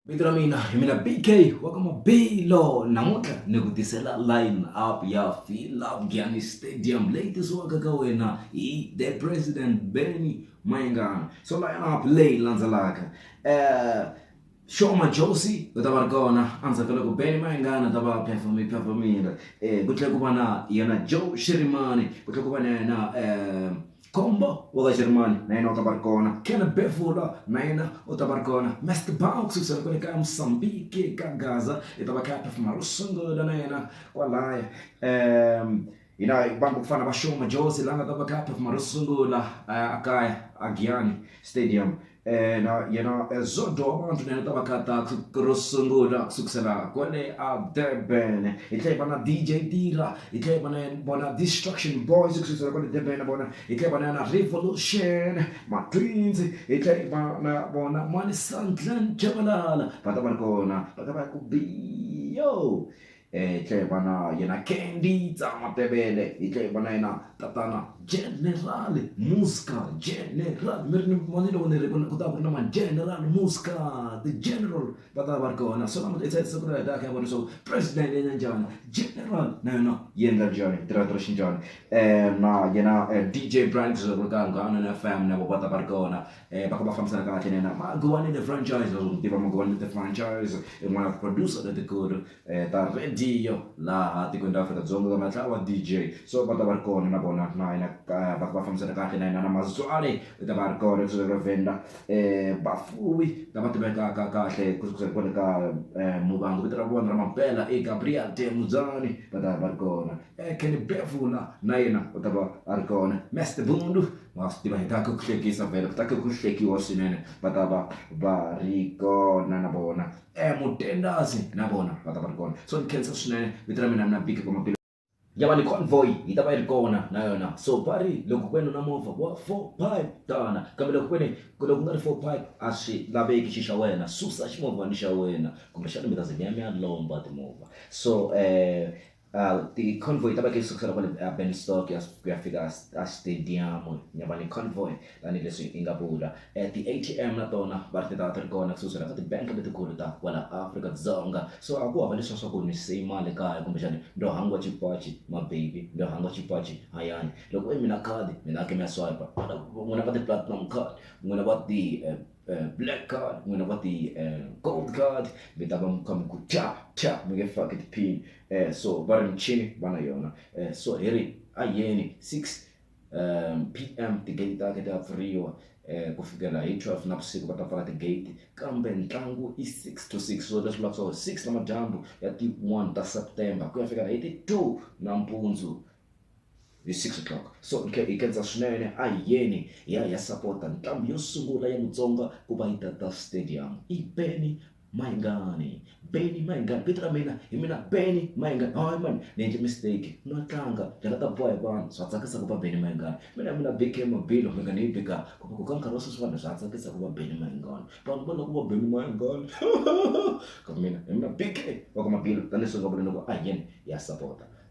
vito ra mina hi mina bk wa ka mabilo namuntlha ni ku tisela line up ya philafgiani stadium leyi tisiwaka ka wena hi the president benny mayengana so line up leyi landzelaka um Shoma Josi u ta va ri kona endzhaku loko Benny Mayengana ta va performe performile um ku tlhela ku va na yena Joe Shirimani ku tlhela ku va na yena um Kombo wa Vajeremani na yena u ta va ri kona. Ken Bevula na yena u ta va ri kona. Mest Bau kusukusela kwale ka Msambiki ka Gaza i ta va kha a phefuma ro sungula na yena kwalaya. Um, hi na vanhu va ku fana na va Sho Majozi la nga ta va kha a phefuma ro sungula uh, a kaya a Giyani Stadium. ena yena zodo wa vanhu nene ta va khatathu ro sungula ku sukusela kwale a durban hi tlhela hi va na dj dira hi tlhela hi va na vona destruction boys ku sukusela kwale durban vona hi tlhela hi va na yona revolution matwins hi tlhela hi va na vona mani sandlan chabalala va ta va ri kona va ta va ya ku biyo Hi tlhela hi va na yena Candy Tsah Matebele, hi tlhela hi va na yena tatana General Muska, General mi ri ni vona loko ni ri ku ku ta va ku ri na ma-General Muska ti-General va ta va ri kona so namuntlha hi siku ra data hi ya vona leswaku President i endla njhani General na yena yi endla njhani yi tirha tirha xinjhani na yena D_J Brian Zulu Ka Munghana F_M na vona va ta va ri kona. va ka va fambisana kahle na yena Magowani The Franchise leswi u swi tiva Magowani The Franchise i n'wana wa ti-producer letikulu ta radio laha tikweni ra Afrika-Dzonga va nga tlhela va D_J so va ta va ri kona na vona na yena va ka va fambisana kahle na yena na Mazwale u ta va a ri kona kusuka eka Venda vafuwi lava tivekaka kahle kusuka kwale ka Muvhango vito ra vona ra mampela i Gabriel Temudzani va ta va ri kona. Eh, Kenny Bevula na yena u ta va a ri kona Master Bundu wa swi tiva hi ta ku hlekisa vhele ku ta ku ku hlekiwa swinene va ta va va ri kona na vona um mutendasi na vona va ta va ri kona so ni khensa swinene vito ra mina mina biki kwamapilo ya va ni convoy yi ta va yi ri kona na yona so va ri loko ku ve ni na movha wa four pipe tana kambe loko ku ve ni ku loko ku nga ri four pipe a swi laveki xi xa wena susa ximovhana xa wena kumbexana mi ta ze mi ya mi ya lomba timovha so um Hawu ti convoy ta vakreste kusukela kwale Burnstock kuya kuya fika a stadium nyava ni convoy tani leswi inga vula ti ATM na tona va ri ti ta ti ri kona kusukusela ka ti bank letikulu ta kwala Afrika Dzonga so a ku hava leswa swa ku ni siyi mali kaya kumbe xani ndo hangwa cipaci ma baby ndo hangwa cipaci hayani loko i mina khadi mina ke mi ya swipe n'wina va ti platinum card n'wina va ti eh, black card n'wina va ti eh, gold card mi ta va mukha mi ku tya tya mi nge faki tiphini um so va ri michini va na yona um so hi ri a yeni six um p m tigate ta ke ta pfuriwa um ku fikela hi twelve na vusiku va ta pfala tigate kambe ntlangu i six to six so leswi vulavusaka six na madyambu ya ti one ta september ku ya fikela hi ti two nampundzu hi 6 o'clock so hi khensa swinene a hi yeni hi ya hi ya sapota ntambu yo sungula ya mutsonga ku va yi tata stadium i beni mayingani beni mayingani vito ra mina hi mina beni mayingani hayi mani ni endle mistake no tlanga ndlela ta boha hi vanhu swa tsakisa ku va beni mayingani mina mina bk mabilo mi nga ni yi bika ku va ku ka nkarhi wa sweswi vanhu swa tsakisa ku va beni mayingani vanhu va lava ku va beni mayingani ka mina hi mina bk wa ka mabilo tanihileswi nga vula loko a hi yeni ya sapota